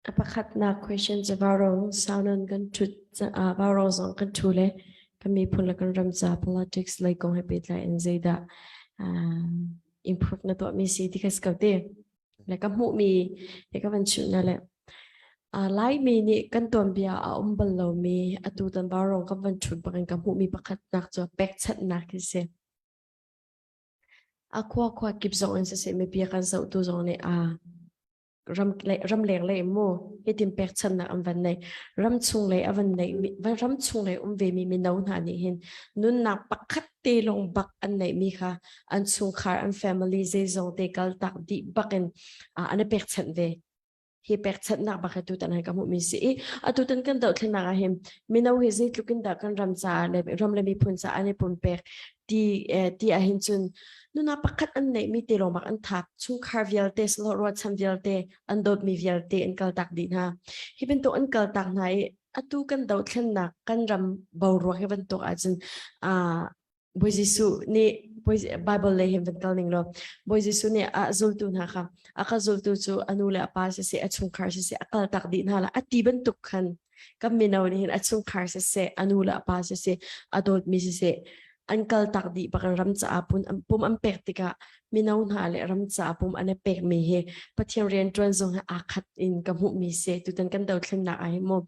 A pakhatnak question cu Vaurong sau nan kan ṭhut caah Vaurong zong kan ṭhu le kan miphun le kan ram ca politics lei kong he pehtlai in zeidah improve na tuahmi si ti kha ka ti. Le ka hmuhmi he ka van chimhna le Laimi nih kan tuanbia a um bal lomi atu tan Vaurong kan van ṭhut bak in ka hmuhmi pakhatnak cu pekchanhnak hi si. A khua khua kip zong in siseh mipi a kan zohtu zong nih aa ram lei, ramleng lei mu hitin pekchanhnak an van nei. Ram chung lei a van nei mi, ram chung lei um ve mi mino hna nih hin nunnak pakhat te lawng bak an nei mi kha an chungkhar an family zeizong te kal tak dih bak in ah an i pekchanh ve. hi pekchanhnak bak hi tutan han ka hmuh mi si i atu tan kan dohthlennak ah hin mino hi zeitluk in dah kan ram caah le ram le miphun caah an i pumpek ti eh, ti ah hin cun nuna pakhat an neih mi te lomak an thak chungkhar vialte slo ruacham vialte an dawt mi vialte in kal tak di hna hi bantuk an kal tak hna i atu kan dohthlennak kan ram boruak hi bantuk ahcun ah Bawi Jesuh nih Bible lei hin van kal ning law Bawi Jesuh nih a zultu hna kha a ka zultu cu a nu le a pa siseh a chungkhar siseh a kal tak dih hna la a ti bantuk khan kan mino nih hin a chungkhar siseh a nu le a pa siseh a dawtmi siseh an kal tak dih bak ram caah pum an pek tikah mino hna le ram caah pum an i pekmi hi Pathian riantuan zong he aa khat in ka hmuhmi si tutan kan dothlennak ah hi mu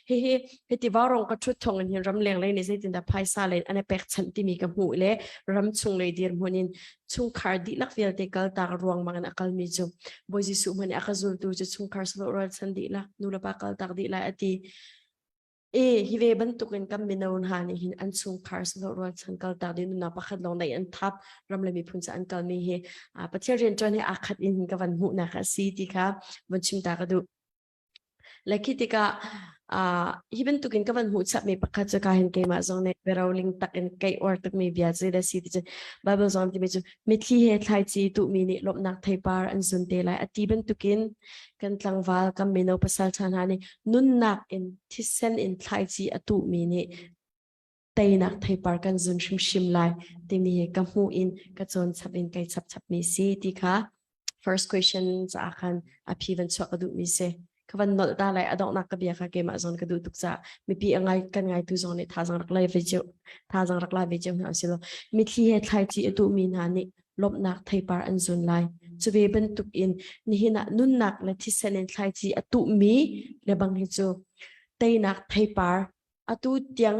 hihi hiti varong ka thut thong in hin ram leng lei nih zeitindah phaisa len an i pekchanh timi ka hmuh le ram chung lei dir hmun in chungkhar dihlak vialte kaltak ruangmang in a kalmi cu Bawi Jesuh hmani a ka zultu cu chungkhar salo ralchan dihlak nu le pa kaltak dihlak ati E, hi ve bantuk in kan mino hna nih hin an chungkhar sawh rualchan kaltak ding nunnak pakhat lawng dai an thap ram le miphun ca an kalmi hi uh, Pathian rianṭuan hi aa khat in ka van hmuhnak a si ti kha van chim ta ka duh. Le khi tikah uh, hi bantuk in ka van hmuh chapmi pakhat cu ka hin keimah zong nih biaroling tak in kei or tukmi bia cu da si ti cun Bible zong timi cu mitthli he thlaici tuhmi nih lawmhnak theipar an zun te lai a ti bantukin kan tlangval kan mino pasal ṭha hna nih nunnak in thisen in thlaici a tuhmi nih teinak theipar kan zun hrimhrim lai timi hi ka hmuh in ka cawn chap in kai chap chapmi si ti kha first question caah khan a phi van chuak ka duhmi si ka van nolh ta lai adonghnak ka bia kha keimah zawn ka duh tuk caah mipi angai kan ngaitu zong nih thazang rak lai ve cheu thazang rak la ve cheu hna silo mitthli he thlaici a tuhmi hna nih lawmhnak theipar an zun lai. Cu ve bantuk in nihin ah nunnak le thisen in thlaici a tuhmi lebang hi cu teinak theipar atu tiang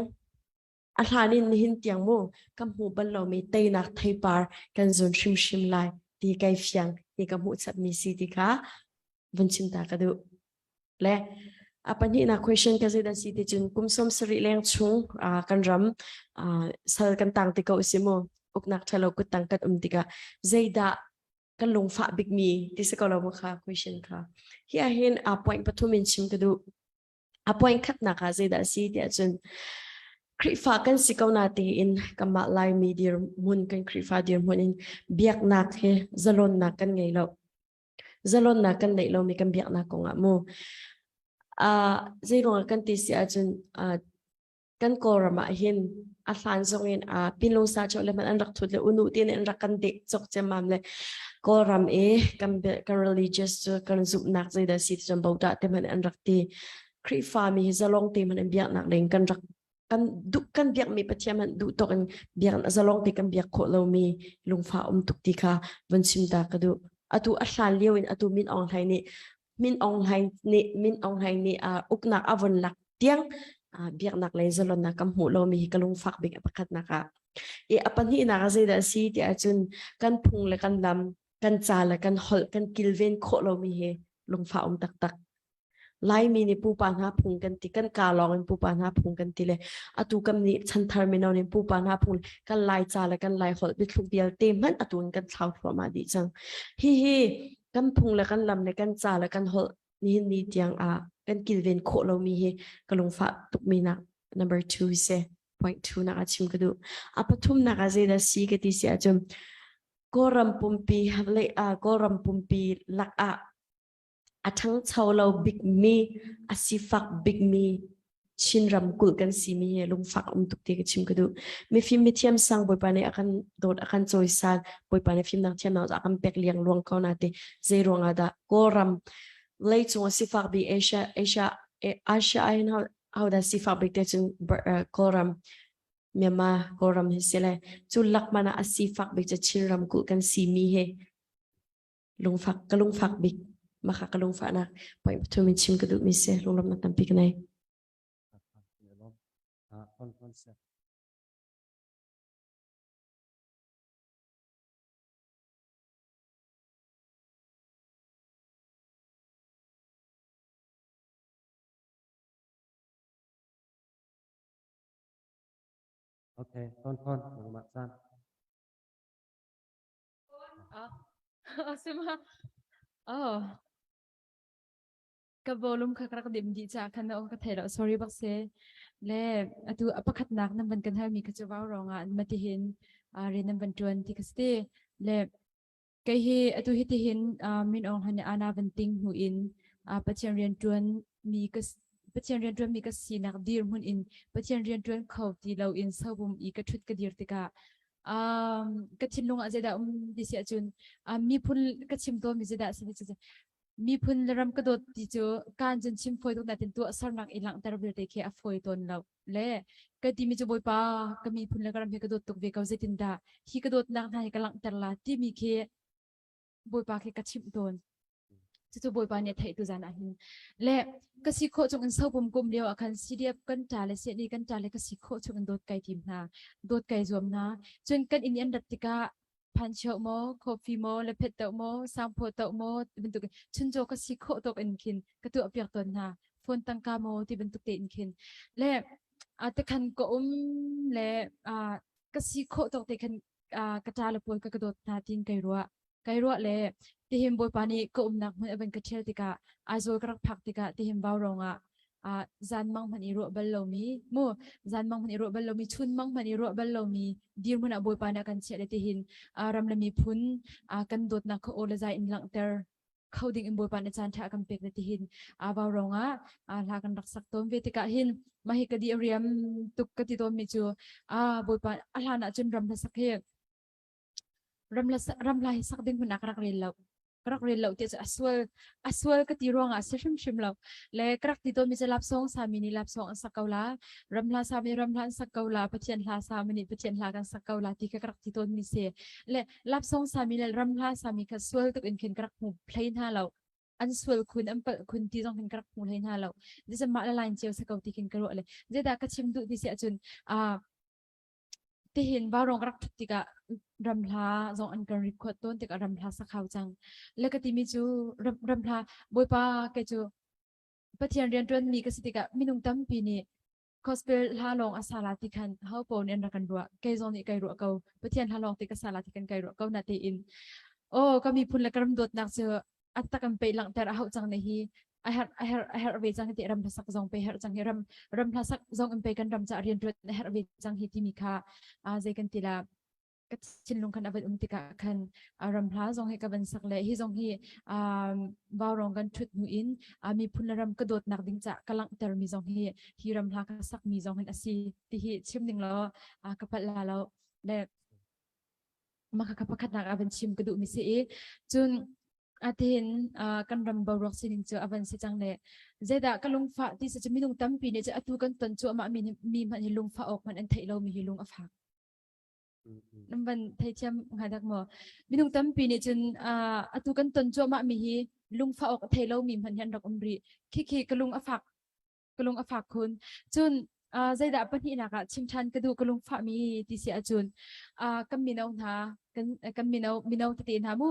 a hlan in nihin tiang mu kan hmu bal lomi teinak theipar kan zun hrimhrim lai ti kai fiang ti ka hmuh chapmi si ti kha vun chim ta ka duh. Le a pahnihnak question ka zei si ti cun kum sawm sarih leng chung uh, kan ram uh, sal kan tang ti ko si mu uknak thalo kut tang kan um tika zeidah kan lungfah big mi ti se ko lo mu kha question kha hi a hin a point pathum in chim ka du a point khat na ka zeidah si ti cun Krifa kan si ko na te in kama lai mi dir mun kan krifa dir mun in biak nak he zalon nak kan ngei lo Zalonnak kan neih lomi kan biaknak kongah mu. Ah, zeiruangah kan ti si ahcun, ah, kan Kawlram ahhin a hlan zongin, ah, Pinlung sa chawh le hmanh an rak thut le unu tiin an rak kan deh cawk ciammam le Kawlram i kan bia- kan religious cu kan zumhnak zeidah a si ti cun Buddha te hmanh an rak ti. Khrihfami hi zalong te hmanh in biaknak ding kan rak kan duh kan biakmi pathian han duh tawk in biak zalong te kan biak khawh lomi lungfa um tuk ti kha von sim ta ka duh atu a hlan lio in atu min ong hlai nih min ong hlai nih min ong hlai nih uh, uknak avon lak tiang uh, biaknak le zalonnak kan hmu lomi hi ka lungfak bik a pakhat nak ah i a pahnih nak a zeidah si ti ahcun kan phung le kan lam kan ca le kan holh kan kilven khawh lomi hi lungfa um taktak Laimi nih pupa hna phung kan ti, kan kaa lawng in pupa hna phung kan ti le atu kan nih chanthar mino nih pupa hna phung kan Laica le kan Laiholh biathluk vialte hmanh atu in kan thlau thluahmah dih cang. Hihi kan phung le kan lam le kan ca le kan holh nihin ni tiang ah kan kilven khawh lomi hi ka lungfah tukmi nak number two se point two nak a chim ka duh. A pathum nak a zeida si ka ti si ahcun Kawlram pumpi lei ah Kawlram pumpi lak ah a ṭhangcho lo bikmi, a sifak bikmi Chin ramkulh kan simi hi lungfak um tuk ti ka chim ka duh. Mifim mithiam sang Bawipa nih a kan dawt a kan cawisan Bawipa nih fimnak thiam na a kan pek liang luang ko na te zei ruangah dah Kawlram lei cung sifak bi Asia Asia Asia ai how how da sifak bik te cun Kawlram Myanmar Kawlram hi si le cu lakmana a sifak bik cu Chin ramkulh kan simi hi lungfak ka lungfak bik makha ka lungfah nak point thu min chim ka duh mi se lunglam na tampi kanai Okay, on on, Mama-san. Ah, sema. Oh, ka bolum kak rak dim di cha kan na ka thelo sorry bak se. Le atu apakhat nak nam ban kan hal mi ka chu wow ronga an mati hin a re nam ban tuan ti kasti. Le kai hi atu hi ti hin min ong hane ana ban ting hu in pathian rian tuan mi ka pathian rian tuan mi ka si nak dir mun in pathian rian tuan kho ti lo in sobum i ka thut ka dir tika um, ka thinlung ah zeidah um ti si ahcun um, miphun ka chim tawnmi zeidah si ti cu miphun le ram ka dawt ti cu kan cun chim phoi tuk natin tuah sarnak i langhter vialte khi a phoi tawn lo le ka ti mi cu bawipa ka miphun le ka ram hi ka dawt tuk ve ko zeitin dah hi ka dawtnak hna hi ka langhter la timi khi Bawipa khi ka chimh tawn. Cucu Bawipa nih a theih tu zan ah hin. Le ka si khawh chung in sopum kum lio ah khan CDF kan ṭa le CNI kan ṭa le ka si khawh chung in dawt kai tim hna. Dawt kai zuam hna. Cun kan in an rat tikah phancheu maw, coffee maw, le phet tau maw, sangphaw tau maw, bantuk chuncaw ka si khawh tok in khin ka tuah piak tawn hna. Phone tangka maw, ti bantuk te in khin. Le a te khan ka um le a ka si khawh tok te khan ah ka ṭa le pawl ka ka dawt hna tiin kai ruah. Kai ruah le tihim Bawipa nih ka umnak hmun a van ka ṭhial tikah Aizawl ka rak phak tikah tihim Vaurong ah ah zanmang hman i ruah bal lomi mu zanmang hman i ruah bal lomi chunmang hman i ruah bal lomi dirhmun ah Bawipa nih a kan chiah le tihin ah ram le miphun ah kan dawtnak kha aw le zai in langhter kho dingin Bawipa nih caanṭha a kan pek na ti hin aa vau rongah aa hla kan rak sak tawn ve tikah hin mah hi ka di a riam tuk ka ti tawnmi cu a Bawipa a hlan ahcun ram hla sak hi ram la ram la hi sak ding hun a ka rak rel lo ka rak rel lo ti cu a sual a sual ka ti ruangah si hrimhrim lo le ka rak ti tawnmi cu lapsawng sami nih lapsawng an sak ko la ramhla sami ramhla an sak ko la pathian hla sami nih pathian hla kan sak ko la ti ka rak ti tawnmi si le Lapsong sami le ramhla sami kha sual tuk in khin ka rak hmu hlei hna lo. An sual khun an palh khun ti zong khin ka rak hmu hlei hna lo. Jese mah le lain ceu sako ti khin ka ruah le. Zedah ka chim duh ti si ahcun ah tihin varong rak thut tikah ramhla zong an kan record tawn tikah ramhla sakhau cang. Le ka timi cu ramhla bawipa ke cu Pathian riantuan mi ka si tikah minung tampi nih Gospel hla lawng a sala ti khan ho pon in rak kan ruah kei zong nih kai ruah ko Pathian hla lawng ti ka sala ti kan kai ruah ko na te in o ka mi phun le ka ram dawtnak cu atak an pei langter a hau chang ne hi a her a her a her ve chang ti ram sak zong pe her chang hi ram ram hla sak zong an pe kan ram cha rian tuat a her ve chang hi ti mi kha a ze kan tila thinlung kan avan um tikah khan uh, ramhla zong hi ka van sak le hi zong hi um, vaurong kan thut hnu in uh, miphun le ram ka dawtnak ding ca ka langhter mi zong hi hi ramhla ka sak mi zong hin asi ti hi chim ding lo uh, ka pal la lo le maka ka pakhat nak avan chim ka du mi si i cun atin uh, kan ram boruak sining cu avan si chang le zeda ka lungfa ti sa minung tampi ne atu kan ton chu ama mi mi man hi lungfa ok man an thei lo mi hi lung a phak Nan van theithiam hnga dak maw? Minung tampi nih cun atu kan ton cuahmah mi hi lungfa awk a thei lo mi hman hian rak um rih. Khikhi ka lung a fak ka lung a fak khun. Cun zeidah pahnih nak ah chim ṭhan ka duh ka lungfah mi ti si ahcun kan mino hna kan mino mino tete hna mu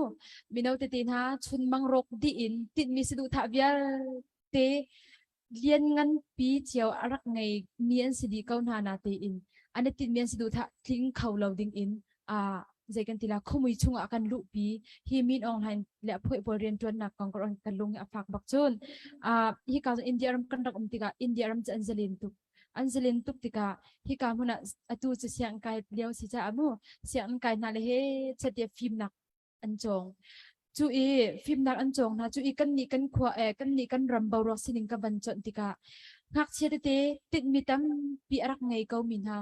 mino tete hna chun mang rawk dih in tinhmi si duh thah vialte Liannganpi cio a rak ngeimi an si dih ko hna na tein an i tinhmi an si duh tah tling kho lo ding in uh, zei kan ti la khumui chungah kan luhpi hi min ong hlain le phoe pawl rian tuannak kong kan kan lung a fak bak cun uh, hi ka India ram kan rak um tikah India ram cu an zalin tuk an zalin tuk tikah hi ka hmun ah atu cu siang kai lio si caah mu siang kai hna le he chatia fimnak an cawng cu i fimnak an cawng hna cu i kannih kan khua e kannih kan ram boruak sining ka van chawnh tikah ngakchia tete tinhmi tampi a rak ngei ko mi hna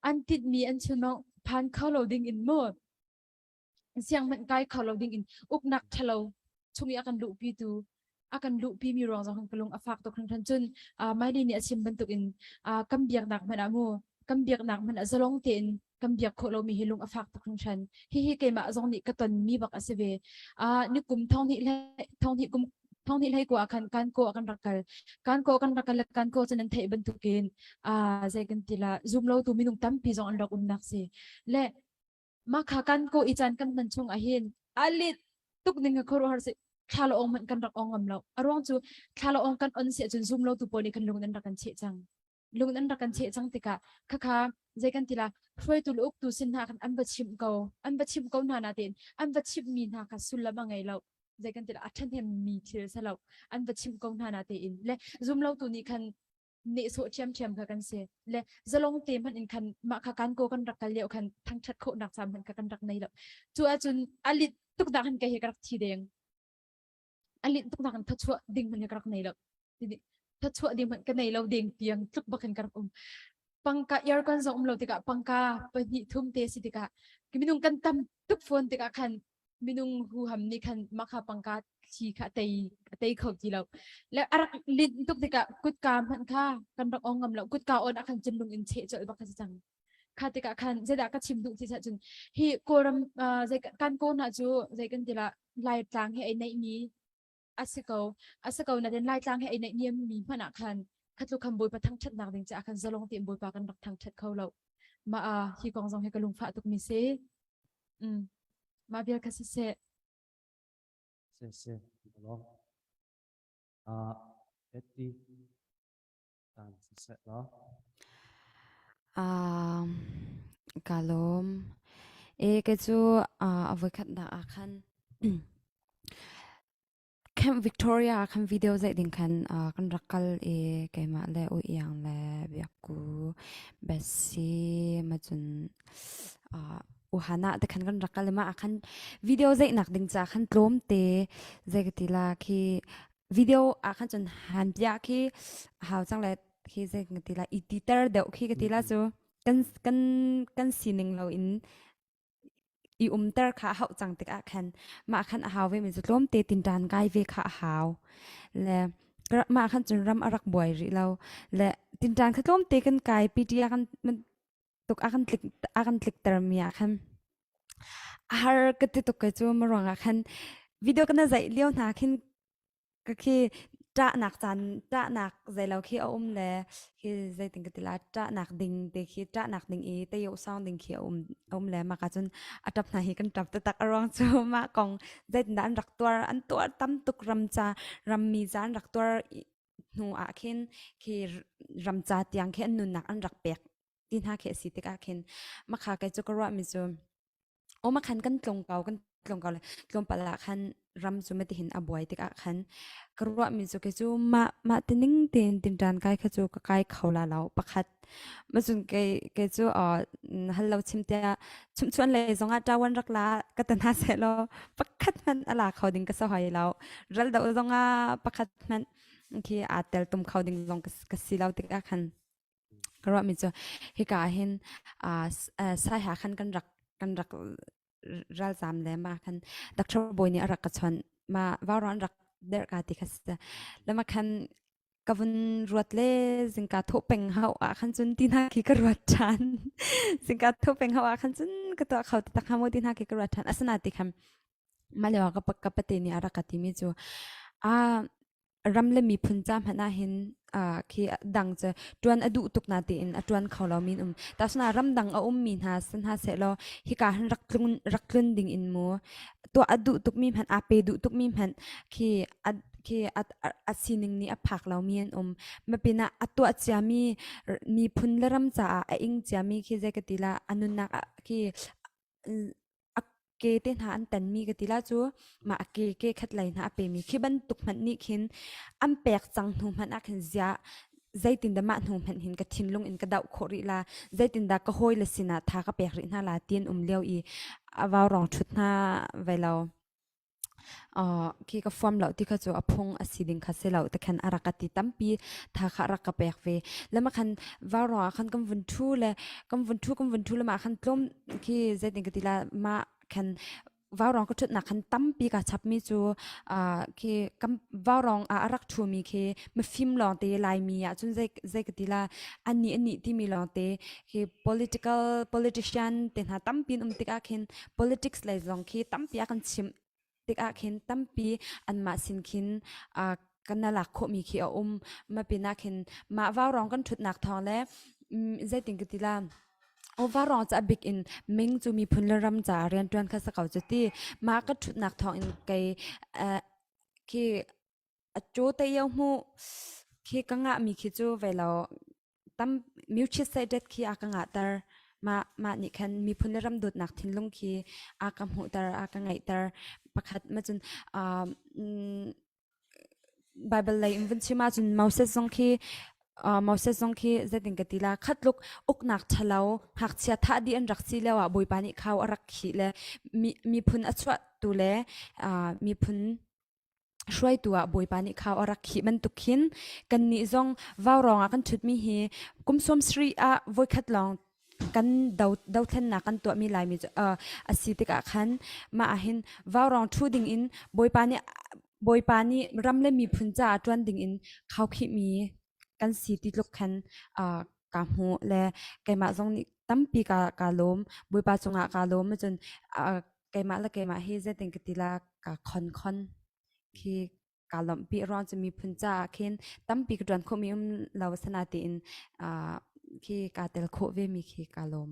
an tinhmi an chim phan kho lo ding in mu siang hmanh kai kho lo ding in uknak thalo chung i a kan luhpi tu a kan luhpi mi ruang zong kan ka lung a fak tuk hringhran cun uh, Miley nih a chim bantuk in uh, kan biaknak hmanh ah mu kan biaknak hmanh ah zalong tein kan biak khawh lomi hi lung a fak tuk hringhran hihi keimah zong nih ka ton mi bak a si ve uh, ni kum thong hnih le thong hnih kum thong hnih hlei ko ah khan kan ko kan rak kal kan ko kan rak kal le kan ko cun an theih bantukin a uh, zei kan tila zum lo tu minung tampi zong an rak umnak si le Makha kan ko i chan kan hman chung ahin alit tuk ning a khor har se thlalo ong man kan rak ong ngam lo aruang chu thlalo ong kan on se chun zoom lo tu po ni kan lung nan rakan che chang lung nan rakan che chang tika khakha zai kan tila hruai tu luk tu sin na kan an va chim ko an va chim ko na na tin an va chim mi na ka sullam angai lo zai kan tila athan hem mi thil salo an va chim ko na na te in le zoom lo tu ni khan nehsawh ṭhiamṭhiam kha kan si le zalong te hmanh in khan mah kha kan ko kan rak kal lio khan thangṭhat khawhnak ca hmanh kha kan rak nei lo cu ahcun a lit tuk nak hin ka hi ka rak thi deng a lit tuk nak in thachuah ding hmanh ka rak nei lo thachuah ding hmanh ka nei lo deng tiang tluk bakin ka rak um pangka aircon zong um lo tikah pangka pahnih thum te si tikah minung kan tam tuk phone tikah khan minung huham nih khan makha pangka thli kha tei a tei kho ti lo le a rak lin tuk tikah kutka hmanh kha kan rak ong ngam lo kutka on a khan chinlung in cheh colh bak si cang kha tikah khan zeidah ka chim duh ti cah cun hi kawlram zei kan kaw hna cu zei kan tila lai tlang hi ai neih mi A si ko. A si ko nain Laitlang he ai naihniam mi hmanh ah khan kha tluk khan Bawipa thangṭhatnak ding caah khan zalong tein Bawipa kan rak thangṭhat kho lo. Ma a hi kong zong hi ka lungfah tuk mi si. Mm. Ma vial kha si seh. Si si. Lo. Ah, Eti. Kaa lawm. Kei cu avokhat dah ahkhan Camp Victoria ahkhan video zei ding khan kan rak kal i keimah le u iang le biakku Bessie macun uhanah te khan kan rak kal i mah ahkhan video zei nak ding ca khan tlawmte zei ka ti la khi video a khan chun han pia khi hau chang le khi ze ka ti la i ti ter deuh khi ka ti la chu kan kan kan sining lo in i um ter kha hau chang tik a khan ma khan a hau ve mi chu tlom te tin tan gai ve kha hau le ma khan chun ram arak buai ri lo le tin tan kha tlom te kan kai pta kan tuk a kan tlik a kan tliktermi ah khan a har ka ti tuk kai cu ma ruang ah khan video kana zaih lio hna khin ka khi ṭahnak caan ṭahnak zeilo khi a um le khi zeitin ka ti la ṭahnak ding te khi ṭahnak ding i teyo sound ding khi a um a um le mah ka cun a ṭap hna hi kan ṭap taktak a ruang cu mah kong zeitindah an rak tuar an tuar tam tuk ram ca rammi ca an rak tuar hnu ah khin khi ramca tiang khi an nunnak an rak pek ti hna khi a si tikah khin makha kai cu ka ruahmi cu o makhan kan tlung ko kan tlung ko le tlawmpal ah khan ram cu matihin a buai tikah khan ka ruahmi cu ke cu mah mah tining tein tinṭan kai kha cu ka kai kho la lo pakhat Mazun ke ke cu hallo chimtia chumchuan le zongah tawan rak la ka tana se lo pakhat man ala kho ding ka so hoi lo ral do zongah pakhat man ki a tel tum kho ding long ka si lo tik khan karwa mi chu hika hin sai ha khan kan rak kan rak ralzam le ma khan doctor boy nih a rak ka chawnh ma vauran rak der ka ti kha sa lama khan ka vun ruat le zingka tho peng hau a khan chun ti na khi ka ruat than zingka tho peng hau a khan chun ka to khau ta kha mo ti na khi ka ruat than asana ti kham malewa ka ka pate ni ara ka ti mi chu a ram le miphun ca hmanh ah hin uh, khi dang cu ṭuan a duh tuk na tein a ṭuan kho lo min um tasuna ramdang a ummi hna sin hna sehlaw hika hin rak tlun rak tlun ding in mu tuah a duh tukmi hmanh a pe duh tukmi hmanh khi a khi a, a, a sining nih a phak lo mi an um mapin ah a tuah cia mi miphun le ram caah a ing cia mi khi zei ka ti la a nunnak ah khi a ke te hna an tanmi ka ti la cu mah a ke ke khat lai hna a pemi khi bantuk hmanh nih khin an pek cang hnu hmanh ah khin zia zeitin dah mah hnu hmanh hin ka thinlung in ka doh khawh rih la zeitindah ka hawi le sinah tha ka pek rih hna la tiin um lio i a vaurong thut hna vai lo khi ka fuam lo ti kha cu a phung a si ding kha si lo tekhen a rak ka ti tampi tha kha rak ka pek ve lama khan var ruang ah khan kam vun thu le kam vun thu kam vun thu lama khan tlom khi zeitin ka ti la ma khan vaurong ka thut nak khan tampi ka chap mi chu khi kam vaurong a arak thu mi khi mafim long te lai mi ya chun zei zei ka ti la ani ani ti mi long te hi political politician te hna tampi an um tikah khin politics lei zong khi tampi a kan chim tikah khin tampi anmah sin khin uh, kan na lak khawhmi khi a um ma pinah khin mah vaurong kan thutnak thawng le um, zeitin ka tila overall cha big in ming chu mi phun le ram cha rian tuan kha sa ko chu ti ma ka thutnak thawng in kai uh, khi Acu teio hmuh khi ka ngahmi khi cu ve law tam mutual state khi a ka ngahter. Mah mah nih khan miphun le ram dawtnak thinlung khi a ka hmuhter, a ka ngeihter. Pakhat ma cun aa mm Bible lei in vun chim ahcun Moses zong khi aa Moses zong khi zeitin ka ti la khat tluk uknak ṭhalo ngakchia thah dih an rak si lio ah Bawipa nih khau a rak khih le mi miphun a chuahtu le aa miphun Hruaitu ah Bawipa nih khau a rak khih bantuk khin kannih zong vaurawng ah kan ṭhutmi hi kum sawmsarih ah voikhat lawng kan do dothlennak kan tuahmi Laimi cu uh, a si tikah khan mah ahhin vaurawng ṭhu dingin Bawipa nih Bawipa nih ram le miphun caah ṭuan dingin khaukhihmi kan si ti tluk khan kaa hmuh le keimah zong nih tampi kaa kaa lawm. Bawipa cungah kaa lawm ahcun keimah le keimah hi zeitin ka ti la kaa khonkhon khi kaa lawmhpi. Ruang cu miphun caah khin tampi ka ṭuan khawhmi um lo asina tiin khi kaa tel khawh vemi khi kaa lawm.